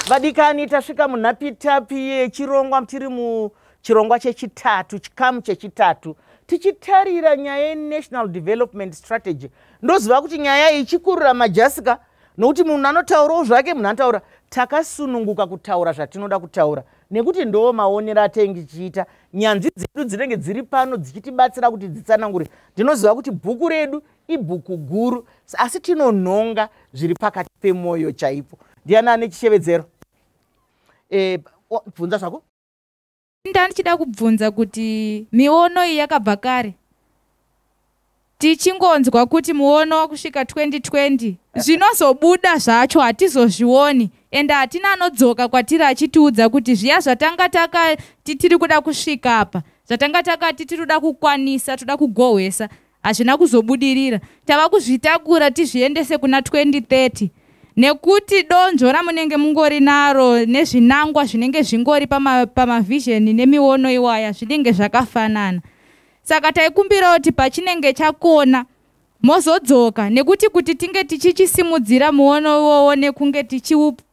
vadikani tasvika munhapitapi yechirongwa tiri muchirongwa chechitatu chikamu chechitatu tichitarira nyaya yenational development strategy ndoziva kuti nyaya iyi ichikurira majasika nokuti munhu anotaurawo zvake munhu anotaura takasununguka kutaura zvatinoda kutaura nekuti ndoo maonero atenge chiita nyanzvi dzedu dzinenge dziri pano dzichitibatsira kuti dzitsanangure ndinoziva kuti bhuku redu ibhuku guru asi tinonhonga zviri pakati pemwoyo chaipo ndiani ane chishevedzero e, bvunza zvako ndandichida kubvunza kuti miono iyi yakabva kare tichingonzwa kuti muono wakusvika 2020 zvinozobuda zvacho hatizozvioni ende hatina anodzoka kwatiri achitiudza kuti zviya zvatanga takati tiri kuda kusvika apa zvatanga takati tiri kuda kukwanisa toda kugohwesa hazvina kuzobudirira tava kuzvitakura tizviendese kuna 2030 nekuti donzvo ramunenge mungori naro nezvinangwa zvinenge zvingori pamavhizheni pama nemiono iwaya zvinenge zvakafanana saka taikumbirawo kuti pachinenge chakona mozodzoka nekuti kuti tinge tichichisimudzira muono iwowo nekunge tichiupa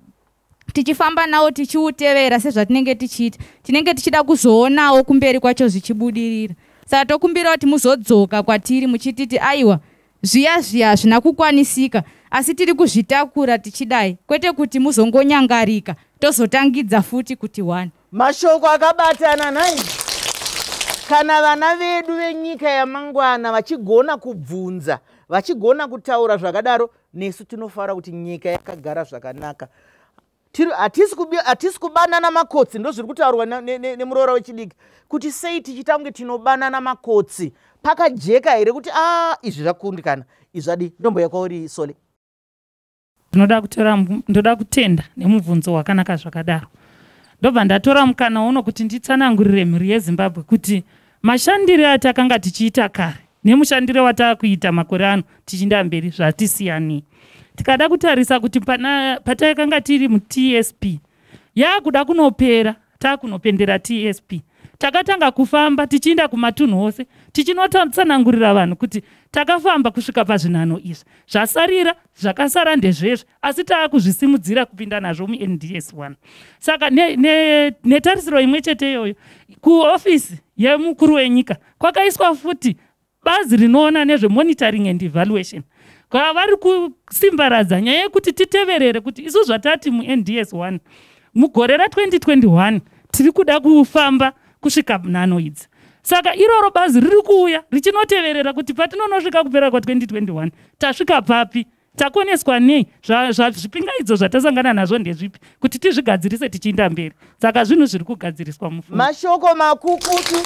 tichifamba nawo tichiutevera sezvatinenge tichiita tinenge tichida kuzoonawo kumberi kwacho zvichibudirira saka tokumbira kuti muzodzoka kwatiri muchititi aiwa zviya zviya hazvina kukwanisika asi tiri kuzvitakura tichidai kwete kuti muzongonyangarika tozotangidza futi kuti one Mashoko akabatana nhai kana vana vedu venyika yamangwana vachigona kubvunza vachigona kutaura zvakadaro nesu tinofara kuti nyika yakagara zvakanaka hatisi kubanana makotsi ndozviri kutaurwa nemuroora wechidiki kuti sei tichiita kunge tinobanana makotsi pakajeka here kuti a ah, izvi zvakundikana izvadi ndombo yakwauri sole ndinoda kutora ndoda kutenda nemubvunzo wakanaka zvakadaro ndobva ndatora mukana uno kuti nditsanangurire mhuri yezimbabwe kuti mashandire atakanga tichiita kare nemushandire wataakuita makore ano tichinda mberi zvatisiyani tikada kutarisa kuti patakanga tiri mutsp yaakuda kunopera taakunopendera tsp takatanga kufamba tichiinda kumatunhu ose tichinotsanangurira vanhu kuti takafamba kusvika pazvinhano izvi zvasarira zvakasara ndezvezvi asi taakuzvisimudzira kupinda nazvo munds one saka netarisiro ne, ne imwe chete iyoyo kuofisi yemukuru wenyika kwakaiswa futi Bazi rinoona nezvemonitoring and evaluation kaa vari kusimbaradza nyaya yekuti titeverere kuti isu zvatati munds 1 mugore ra2021 tiri kuda kufamba kusvika nhano idzi saka iroro bazi riri kuuya richinoteverera kuti patinonosvika kupera kwa2021 tasvika papi takoneswa nei zvipingaidzo zvatasangana nazvo ndezvipi kuti tizvigadzirise tichiinda mberi saka zvinhu zviri kugadziriswa mufu mashoko makukutu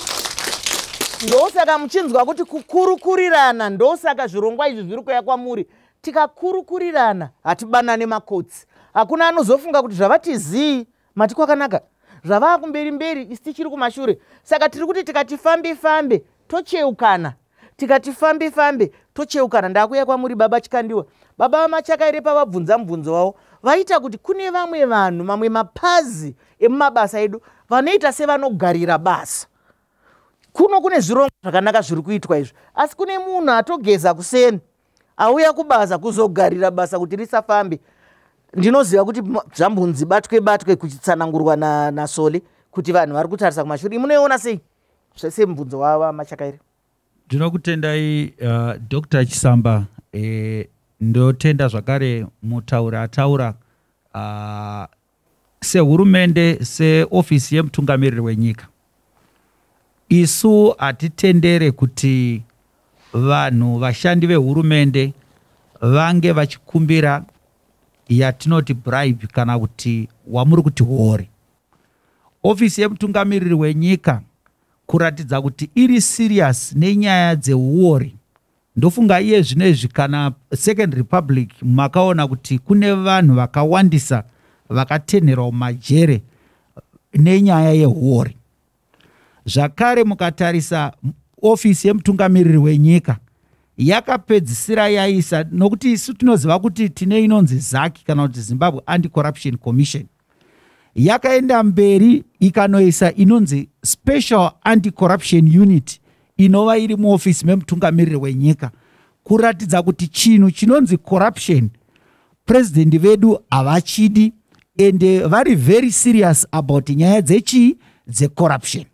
ndosaka muchinzwa kuti kukurukurirana ndosaka zvirongwa izvi zviri kuya kwamuri tikakurukurirana hatibanane makotsi hakuna anozofunga kuti zvavatizii mati kwakanaka zvavaa kumberi mberi isi tichiri kumashure saka tiri kuti tikati fambe fambe tocheukana tikati fambe fambe tocheukana ndakuya kwamuri baba chikandiwa baba vamachaka ere pavabvunza mubvunzo wavo vaita kuti kune vamwe vanhu mamwe mapazi emumabasa edu vanoita sevanogarira basa kuno kune zvirongwa zvakanaka zviri kuitwa izvi asi kune munhu atogeza kuseni auya kubasa kuzogarira basa kuti risafambe ndinoziva kuti zvambunzi batwe batwe kuchitsanangurwa nasoli na kuti vanhu vari kutarisa kumashure munoiona sei zvese mubvunzo wava machakairi ndinokutendai uh, dr chisamba e, ndotenda zvakare mutauri ataura uh, sehurumende seofisi yemutungamiriri wenyika isu hatitendere kuti vanhu vashandi vehurumende vange vachikumbira yatinoti bribe kana kuti wamuri kuti hori ofisi yemutungamiriri wenyika kuratidza kuti iri serious nenyaya dzeuori ndofunga iye zvino izvi kana second republic makaona kuti kune vanhu vakawandisa vakatenherwa mumajere nenyaya yehuori zvakare mukatarisa ofisi yemutungamiriri wenyika yakapedzisira yaisa nokuti isu tinoziva kuti tine inonzi zaki kana kuti zimbabwe anti corruption commission yakaenda mberi ikanoisa inonzi special anti-corruption unit inova iri muofisi memutungamiriri wenyika kuratidza kuti chinhu chinonzi corruption purezidhendi vedu havachidi ende vari very serious about nyaya dzechii dzecorruption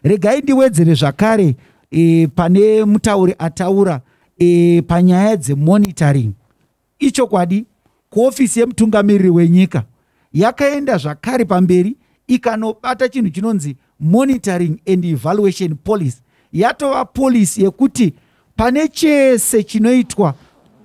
regai ndiwedzere zvakare e, pane mutauri ataura e, panyaya dzemonitoring Ichokwadi, kuofisi yemutungamiriri wenyika yakaenda zvakare pamberi ikanobata chinhu chinonzi monitoring and evaluation policy yatova polisi yekuti pane chese chinoitwa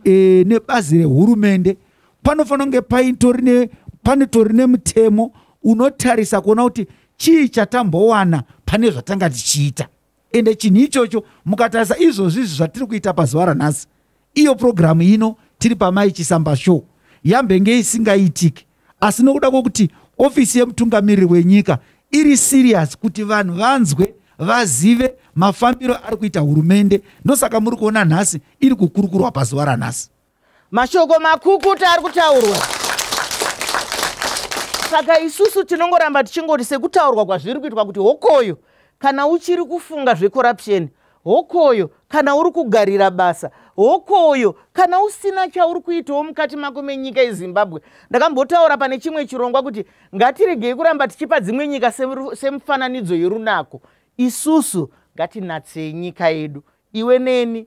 e, nebazi rehurumende panofanira kunge paitori panotori nemutemo unotarisa kuona kuti chii chatambowana pane zvatanga tichiita ende chinhu ichocho mukatarisa izvozvi izvi zvatiri kuita pazuva ranhasi iyo purogiramu ino tiri pamai chisamba show yambenge isingaitiki asi nokuda kwokuti ofisi yemutungamiriri wenyika iri siriyasi kuti vanhu vanzwe vazive mafambiro ari kuita hurumende ndosaka muri kuona nhasi iri kukurukurwa pazuva ranhasi mashoko makukuta ari kutaurwa saka isusu tinongoramba tichingoti sekutaurwa kwazviri kuitwa kuti hokoyo kana uchiri kufunga zvecorruption hokoyo kana uri kugarira basa hokoyo kana usina chauri kuitawo mukati mako menyika yezimbabwe ndakambotaura pane chimwe chirongwa kuti ngatiregei kuramba tichipa dzimwe nyika semufananidzo yerunako isusu ngatinatsei nyika yedu iwe neni